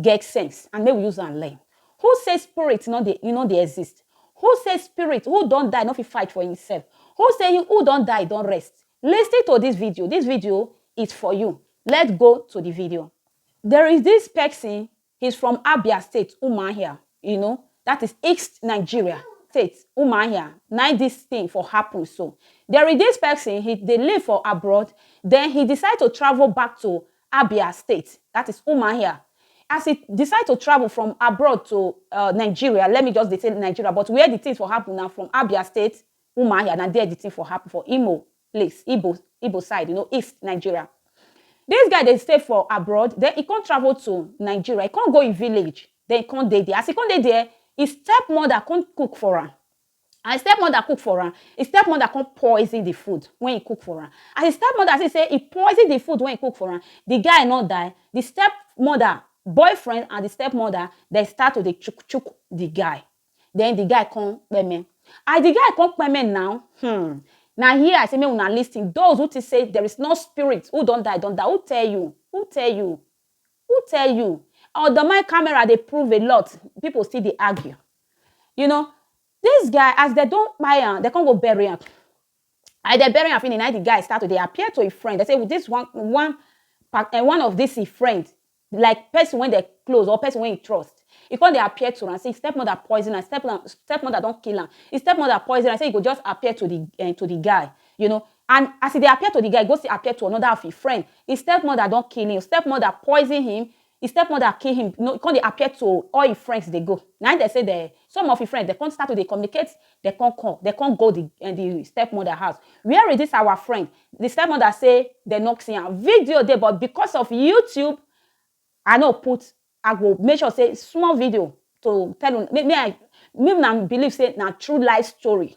Get sense and make we use am learn. Who say spirit no dey e no dey exist? Who say spirit who don die no fit fight for himself? Who say him who don die don rest? Listen to this video, this video is for you. Let's go to the video. There is this person, he's from Abia state, Umuahia, you know, that is East Nigeria state, Umuahia. Now this thing for happen so. There is this person, he dey live for abroad, then he decide to travel back to Abia State, that is Umuahia, as e decide to travel from abroad to uh, Nigeria, let me just dey say Nigeria, but where the thing for happen na from Abia State, Umuahia, na there the thing for happen for Imo place, Igbo, Igbo side, you know, East Nigeria. This guy dey stay for abroad, then he come travel to Nigeria, he come go him village, then he come dey there. As he come dey there, his stepmother come cook for am. As e stepmother cook for am, e stepmother come poison the food when e cook for am. As e stepmother see say e poison the food when e cook for am, the guy no die, the stepmother, boyfriend and the stepmother dem start to dey chook chook the guy. Then the guy come kpeme. As the guy come kpeme now, hmm, na here I say make una listen, those who think say there is no spirit, who don die don die, who tell you? Who tell you? Who tell you? Odomah camera dey prove a lot, people still dey argue. You know, this guy, as they don't buy him, they can't go bury him. And they bury him, finish, now the guy start to they appear to a friend. They say, well, this one, one, and eh, one of this friend, like person when they close or person when you trust. He come dey appear to am say his stepmother poison am stepmother stepmother don kill am his stepmother poison am say he go just appear to the uh, to the guy you know and as he dey appear to the guy he go still appear to another of him friend his stepmother don kill him stepmother poison him Him stepmother kill him, no, come dey appear to all him friends dey go. Na him dem say dem, some of him friends dem come start to dey communicate, dem come come, dem come go the eh, the stepmother house. Where is this our friend? The stepmother say dem no see am. Video dey but because of YouTube, I no put, I go make sure say small video to tell una, make I, make una believe say na true life story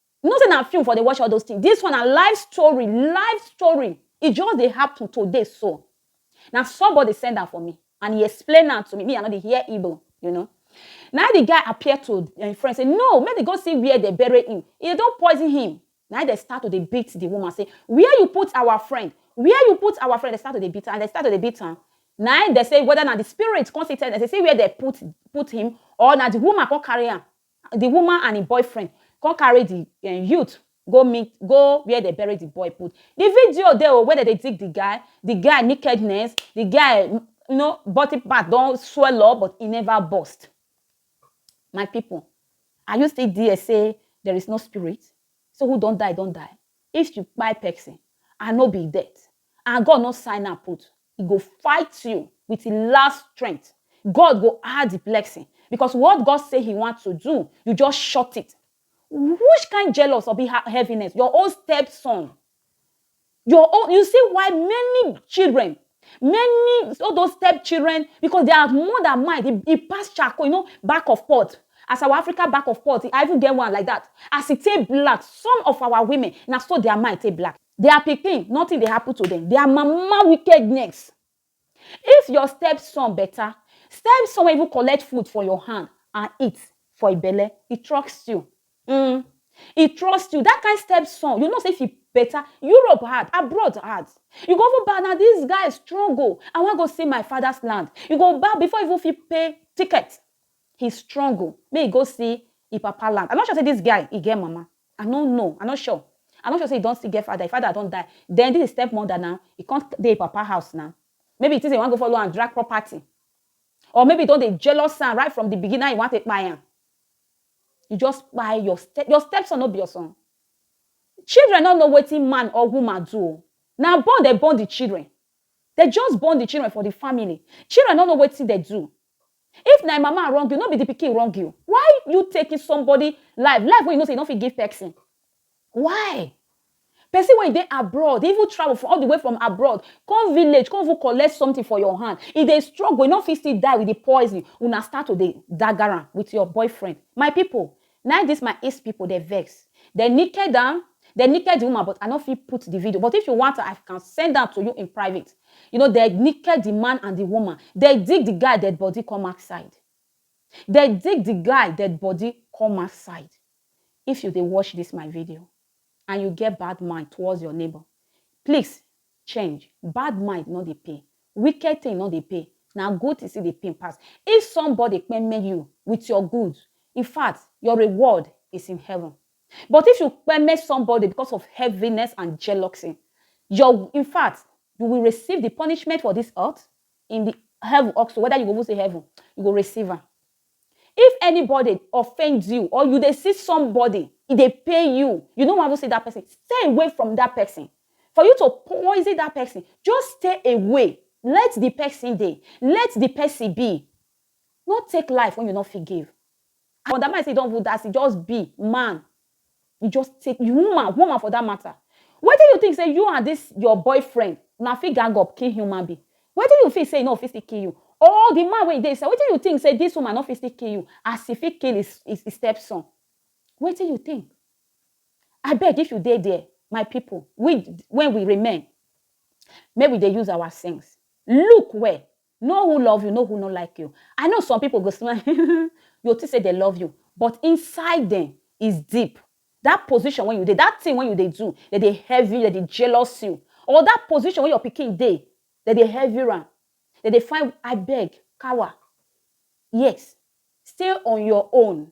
You know say na film for dey watch all those things. This one na live story, live story. E just dey happen today so. Na somebody send am for me and e explain am to me. Me, I no dey hear Igbo, you know. Na im the guy appear to im friend say, No, make dem go see where dem bury him. Dem don poison him. Na im dem start to dey beat the woman say, Where you put our friend? Where you put our friend? Dem start to dey beat am. As dem start to dey beat am, na im dem say whether na the spirit come still tell dem say, See where dem put put him or na the woman come carry am the woman and im boyfriend come carry the um, youth go meet go where they bury the boy put the video there oh, where they dig the guy the guy nakedness the guy you know body part don't swell up but he never burst my people are you still there say there is no spirit so who don't die don't die If you kpai pesin and no be death and God no sign am put, He go fight you with He last strength. God go add He blessing because what God say He want to do, you just shut it. Which kind jealous abi heaviness? Your own stepson, your own. You see why many children Many all those step children because their mother mind e e pass charcoal you know back of pot as our Africa back of pot I even get one like that as e take black some of our women na so their mind take black their pikin nothing dey happen to them their mama wickedness if your step son better step son wan even collect food for your hand and eat for e belle e trust you Mm, e trust you. That kind step son, you know say if e better, Europe hard, abroad hard. You go even ba na this guy struggle. I wan go see my father's land. You go ba before you even fit pay ticket. He struggle. May he go see e papa land. I'm not sure say this guy he get mama. I no know. I no sure. I no sure say he don still get father. His father don die. Then this is stepmother now. He come dey him papa house now. Maybe he think say he wan go follow am drag property. Or maybe he don dey jealous am right from the beginning. Now he wan take kpai am. You just buy your step your stepson no be your son. Children no know wetin man or woman do o. Na born dem born the children. They just born the children for the family. Children no know wetin they do. If na im mama wrong you, no be the pikin wrong you. Why you taking somebody life, life wey you know say you no fit give person? Why? Pesin wey e dey abroad, e even travel from all di way from abroad come village come even collect something for your hand, e dey struggle, e no fit still die with di poison, una start to dey dagger am with your boyfriend. My pipo, na im dis my east pipo dey vex. Dem naked am, dem naked di woman but I no fit put di video but if you want am, I can send am to you in private. You know, dem naked di man and di woman, dem dig di guy dead body come outside. Dem dig di guy dead body come outside. if you dey watch this my video and you get bad mind towards your neighbor, please change. Bad mind no dey pay. Wicked thing no dey pay. Na good thing still dey pay pass. If somebody kpeme you with your good, in fact, your reward is in heaven. But if you kpeme somebody because of heaviness and jealousy, your in fact, you will receive the punishment for this earth in the heaven also. Whether you go even say heaven, you go receive am. If anybody offend you or you dey see somebody, e dey pain you, you no wan even see that person, stay away from that person. For you to poison that person, just stay away, let the person dey, let the person be. No take life when you no fit give. Undermine say you don even die, as e just be, man. you just take you woman woman for that matter wetin you think say you and this your boyfriend una fit gang up kill human being wetin you feel say e no fit still kill you or the man wey dey inside wetin you think say this woman no fit still kill you as e fit kill his his stepson wetin you think abeg if you dey there my people we when we remain make we dey use our sense look well Know who love you, know who no like you. I know some people go smile you go think say dem love you but inside dem is deep. That position wey you dey, that thing wey you dey do, dem dey heavy you, dem dey jealous you or that position wey your pikin dey, dem dey heavy am. Dem dey find abeg kawa. Yes, stay on your own.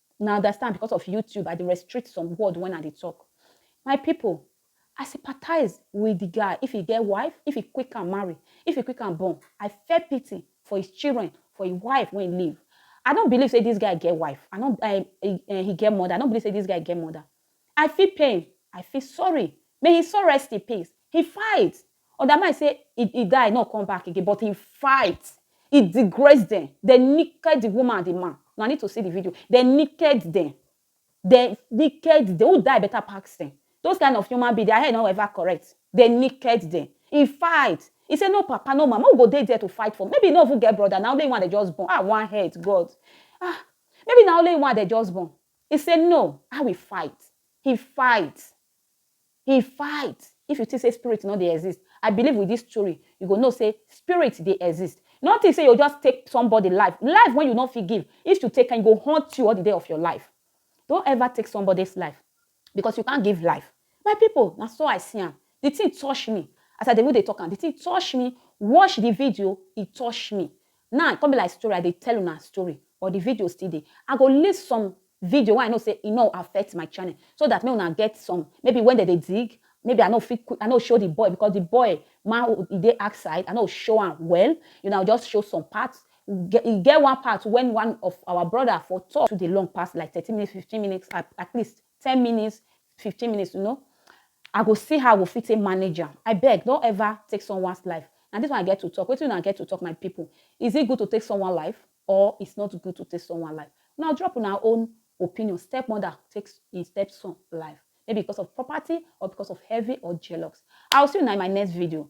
Una understand because of YouTube I dey restrict some word when I dey talk. My people I sympathize with the guy if he get wife, if he quick am marry, if he quick am born. I felt pity for his children, for his wife wey he leave. I no believe say this guy get wife, I no um he get mother, I no believe say this guy get mother. I feel pain, I feel sorry. May he so rest in peace. He fight, Undermine say e e die, e no come back again but e fight, e degrace dem, dem nicked the woman and the man, una need to see the video, dem nicked dem, dem nicked dem, who die better pass dem? Those kind of human being, their head no ever correct, dem nicked dem, e fight, e say no papa, no mama, who go dey there to fight for me? Maybe e no even get brother, na only him one dem just born, ah one head God, ah maybe na only him one dem just born, e say no, I will fight, he fight, He fight. If you think say spirit no dey exist, I believe with this story, you go know say spirit dey exist. No think say you just take somebody life. Life when you no fit give, if you take am, e go haunt you all the day of your life. Don't ever take somebody's life because you can't give life. My people, na so I see am. The thing touch me. As I dey even dey talk am, the thing touch me. Watch the video, e touch me. Now e come be like story I dey tell una story but the video still dey. I go leave some video wey I know say e no affect my channel so that make una get some maybe when dem dey dig maybe I no fit quick I no show the boy because the boy ma e dey outside I no show am well you know I just show some parts e get one part when one of our brother for talk too dey long pass like thirteen minutes fifteen minutes at least ten minutes fifteen minutes you know i go see how i go fit take manage am i beg don't ever take someone's life na this one i get to talk wetin una get to talk my people is it good to take someone life or it's not good to take someone life now drop una own opinion stepmother takes his stepson life maybe because of property or because of heavy or jealous i'll see you in my next video